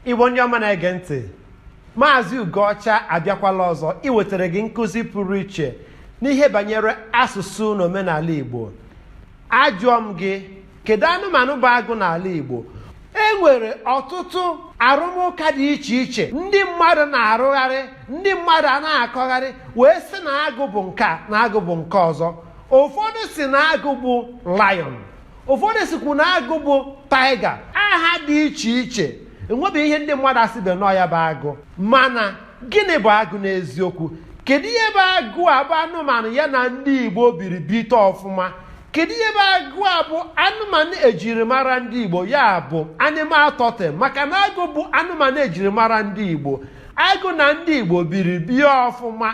igbo ndị ọma na-ege ntị maazị ugoọcha abịakwala ọzọ iwetara gị nkụzi pụrụ iche n'ihe banyere asụsụ na omenala igbo ajụọ m gị kedu anụmanụ bụ agụ n'ala igbo e nwere ọtụtụ arụmụka dị iche iche ndị mmadụ na-arụgharị ndị mmadụ a na-akọgharị wee sị na agụ bụ nke a na agụ bụ nke ọzọ ụfọdụ sị na agụ bụ lion ụfọdụ sịkwu na agụ bụ tiger aha dị iche iche enwebeghị ihe ndị mmadụ asịbe na ọ ya bụ agụ mana gịnị bụ agụ n'eziokwu kedu ihe bụ agụ a bụ anụmanụ ya na ndị igbo biri bite ọfụma kedu ihe bụ agụ a bụ anụmanụ ejirimara ndị igbo ya bụ animal totem maka na agụ bụ anụmanụ ejirimara ndị igbo agụ na ndị igbo biri bie ọfụma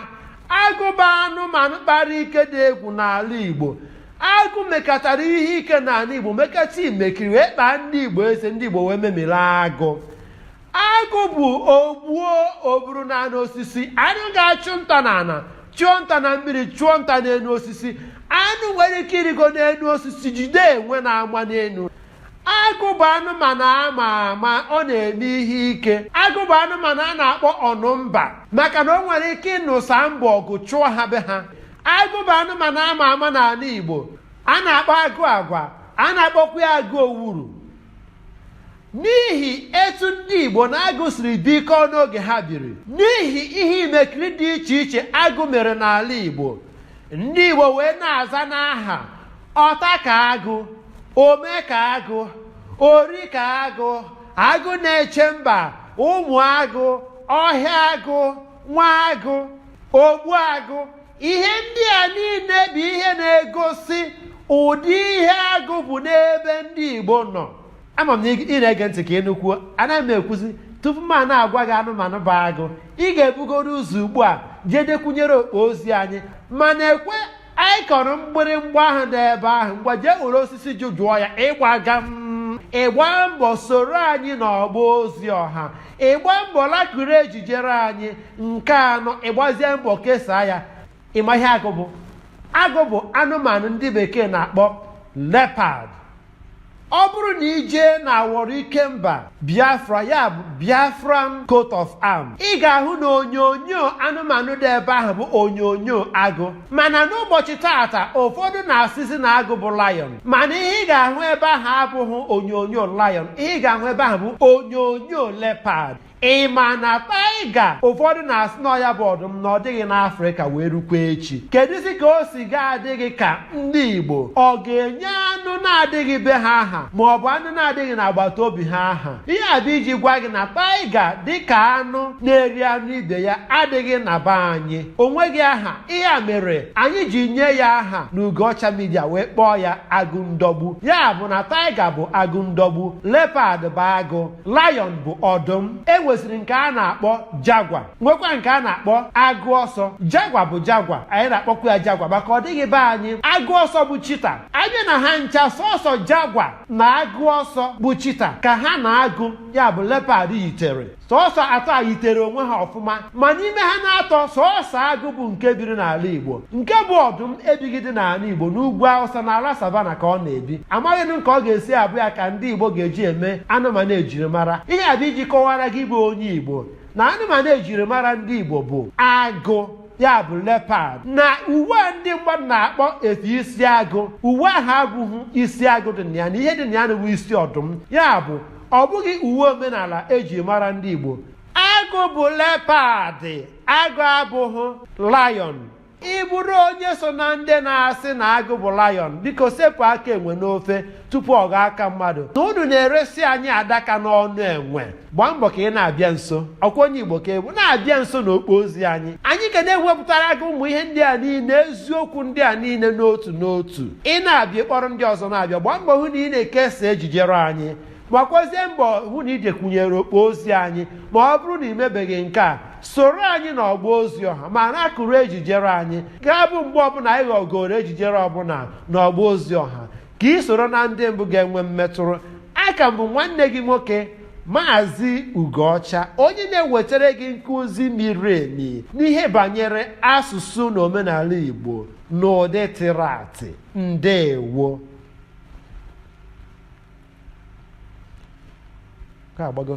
agụ bụ anụmanụ kpara ike dị egwu n'ala igbo agụ mekatara ihe ike n'ala igbo mekata imekiri wee kpaa ndị igbo eze ndị igbo wee memiri agụ agụ bụ ogbuo o buru naa enu osisi anụ ga-achụ nta n'ana chụọ nta na mmiri chụọ nta n'enu osisi anụ nwere ike ịrịgo n'enu osisi jide enwe na-ama n'enu agụ bụ anụmanụ ama ama ọ na-eme ihe ike agụ bụ anụmanụ a na-akpọ ọnụmba maka na o nwere ike ịnụsa mba ọgụ chụọ ha be ha agụ bụ anụmanụ ama ama n'ala igbo a na-akpọ agụ agwa a na-akpọkwa ya agụ owuru n'ihi etu ndị igbo na agụ siri bikọọ n'oge ha biri n'ihi ihe imekiri dị iche iche agụ mere n'ala igbo ndị igbo wee na-aza n'aha ọta ka agụ ome ka agụ ori ka agụ agụ na-eche mba ụmụ agụ ọhịa agụ nwa agụ ogbuagụ ihe ndị a niine bụ ihe na-egosi ụdị ihe agụ bụ n'ebe ndị igbo nọ ama m na ị na-ege ntị ka ị nụkwuo anaghị m ekwuzi tupu m a na-agwa gị anụmanụ bụ agụ ị ga-ebugoro ụzọ ugbu a jee dekwunyere okpo ozi anyị mana ekwe anyị kọrọ mgbịrịmgba ahụ nọ ebe ahụ ngwa jee were osisi jụ jụọ ya ịgbaga m ị gbaa mbọ soro anyị n'ọgba ozi ọha ị gbaa mbọ lekiri ejijere anyị nke anọ ị gbazie mbọ kesaa ya ị ma ihe agụ bụ agụ bụ anụmanụ ndị bekee na-akpọ leopard ọ bụrụ na ị jee na awọrọ ike mba biafra ya bụ biafran coat of arm ị ga-ahụ na onyonyo anụmanụ dị ebe ahụ bụ onyonyo agụ mana n'ụbọchị taata ụfọdụ na-asịzi na agụ bụ lion mana ihe ị ga-ahụ ebe ahụ abụghị onyonyo lion ihe ị ga-ahụ ebe ahụ bụ onyonyo leopard ị ma na taiga ụfọdụ na-asị na ọ ya bụ ọdụm na ọ dịghị n'afrịka wee rukwa echi kedụzi ka o si ga-adị gị ka ndị igbo ọ ga-enye anụ na-adịghị be ha aha ma ọ bụ anụ na-adịghị n'agbata obi ha aha ihe a bụ iji gwa gị na taiga dịka anụ na-eri anụ ibe ya adịghị na be anyị o nweghị aha ihe a mere anyị ji nye ya aha na ugoọcha midia wee kpọọ ya agụ ndọgbu ya bụ na taiga bụ agụ ndọgbu lepad bụ agụ lion bụ ọdụm e nwesịrị nke a na-akpọ jagwa nwekwa nke a na-akpọ agụ ọsọ jagwa bụ jagwa anyị na-akpọkwa ya jagwa maka ọ dịghị be anyị agụ ọsọ bụ chita a bịa na ha ncha sọsọ jagwa na agụ ọsọ bụ chita ka ha na agụ ya bụ lepad yitere sọsọ atọ a yitere onwe ha ọfụma ma n'ime ha n'atọ sọọsọ agụ bụ nke biri n'ala Igbo nke bụ ọdụm ebighịdị n'ala Igbo n'ugwu Awụsa na ala savana ka ọ na-ebi amaghị m ka ọ ga-esi abụ ya ka ndị Igbo ga-eji eme anụmanụ ejirimara ihe a bụ iji kọwara gị bụ onye Igbo na anụmanụ ejirimara ndị Igbo bụ agụ ya bụ lepad na uwe a ndị mmadụ na-akpọ efe isi agụ uwe ahụ abụghị isi agụ dị na ya na ihe dị na ya bụ isi ọdụm ya bụ ọ bụghị uwe omenala eji mara ndị Igbo agụ bụ lepadị agụ abụghị lion ị bụrụ onye so na ndị na-asị na agụ bụ lion biko sepụ aka enwe n'ofe tupu ọ ghọọ aka mmadụ na unu na-eresi anyị adaka n'ọnụ enwe gbaa mbọ ka ị na-abịa nso ọ kwa onye igbo ka ị bụ na-abịa nso na okpo ozi anyị anyị ga na-ewepụtara gị ụmụ ihe ndị a niile eziokwu ndị a niile n'otu n'otu ị na-abịa kpọrọ ndị ọzọ na-abịa gbaa mbọ hụ na ị na-ekesa ejijere anyị gbakwazie mbọ hụ na i jekwunyere okpo ozi anyị ma ọ bụrụ na ị mebeghị nke a soro anyị na ọgba ozi ọha ma na-akụrụ ejijere anyị ga-abụ mgbe ọbụla anyị ghọgoro ejijere ọbụla na ọgba ozi ọha ka ị soro na ndị mbụ ga-enwe mmetụrụ aka m bụ nwanne gị nwoke maazị ugoọcha onye na-ewetara gị nkụzi miri emi n'ihe banyere asụsụ na omenala igbo n'ụdị tịratị ndeewo ka agbago